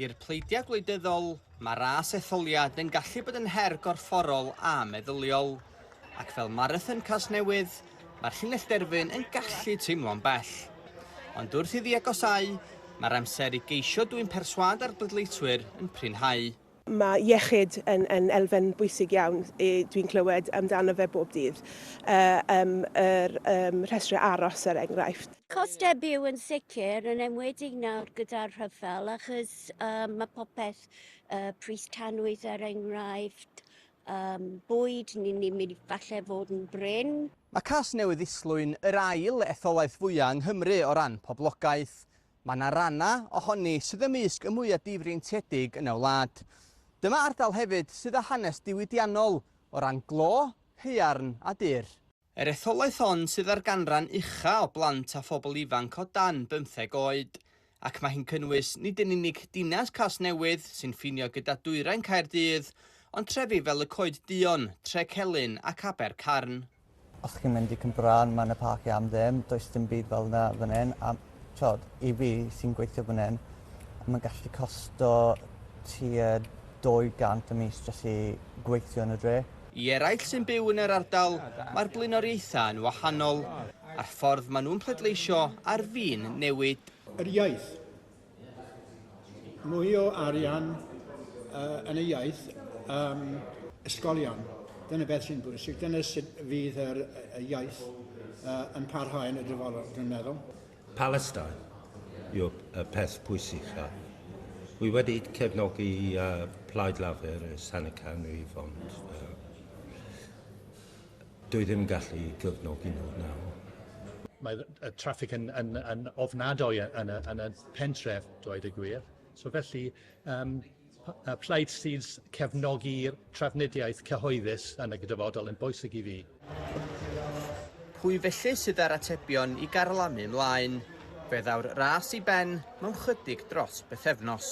I'r pleidiau gwleidyddol, mae ras etholiad yn gallu bod yn her gorfforol a meddyliol. Ac fel marathon Casnewydd, mae'r llinell derfyn yn gallu teimlo'n bell. Ond wrth iddi agosau, mae'r amser i geisio dwyn perswâd ar bleidleiswyr yn prinhau. Mae iechyd yn, yn elfen bwysig iawn, dwi'n clywed amdano fe bob dydd. Yym yr yym rhestrau aros er enghraifft. Costau byw yn sicr, yn enwedig nawr gyda'r rhyfel achos yym mae popeth, yy pris tanwydd er enghraifft, yym bwyd, ni'n ni'n mynd i falle fod yn brin. Mae Casnewydd Islwyn yr ail etholaeth fwya' yng Nghymru o ran poblogaeth. Mae yna rannau ohoni sydd ymysg y mwya difreintiedig yn y wlad. Dyma ardal hefyd sydd â hanes diwydiannol o ran glo, haearn a dur. Yr etholaeth hon sydd â'r ganran ucha o blant a phobl ifanc o dan bymtheg oed, ac mae hi'n cynnwys nid yn unig dinas Casnewydd sy'n ffinio gyda dwyrain Caerdydd, ond trefi fel y Coed Duon, Trecelyn ac Abercarn. Os chi'n mynd i Cwmbrân ma' 'na parciau am ddim, does dim byd fel 'na fan 'yn a t'od i fi sy'n gweithio fan 'yn ma'n gallu costo tua dou gant y mis jys i gweithio yn y dre. I eraill sy'n byw yn yr ardal mae'r blaenoriaethau yn wahanol a'r ffordd maen nhw'n pleidleisio ar fin newid. Yr iaith. mwy o arian uh, yn y iaith um, ysgolion. Dyna beth sy'n bwysig. Dyna sut fydd yr, y iaith uh, yn parhau yn y dyfodol, dwi'n meddwl. Palestine yw'r y peth pwysig a Wy wedi cefnogi uh, Plaid Lafur ers hanner canrif, ond uh, Dwi ddim yn gallu cefnogi nhw nawr. Mae y traffig yn, yn, yn ofnadwy yn y, yn y pentref, dweud y gwir. So felly, um, y plaid sydd cefnogi trafnidiaeth cyhoeddus yn y gydyfodol yn bwysig i fi. Pwy felly sydd â'r atebion i garlamu mlaen? Fe ddaw'r ras i ben mewn chydig dros bythefnos.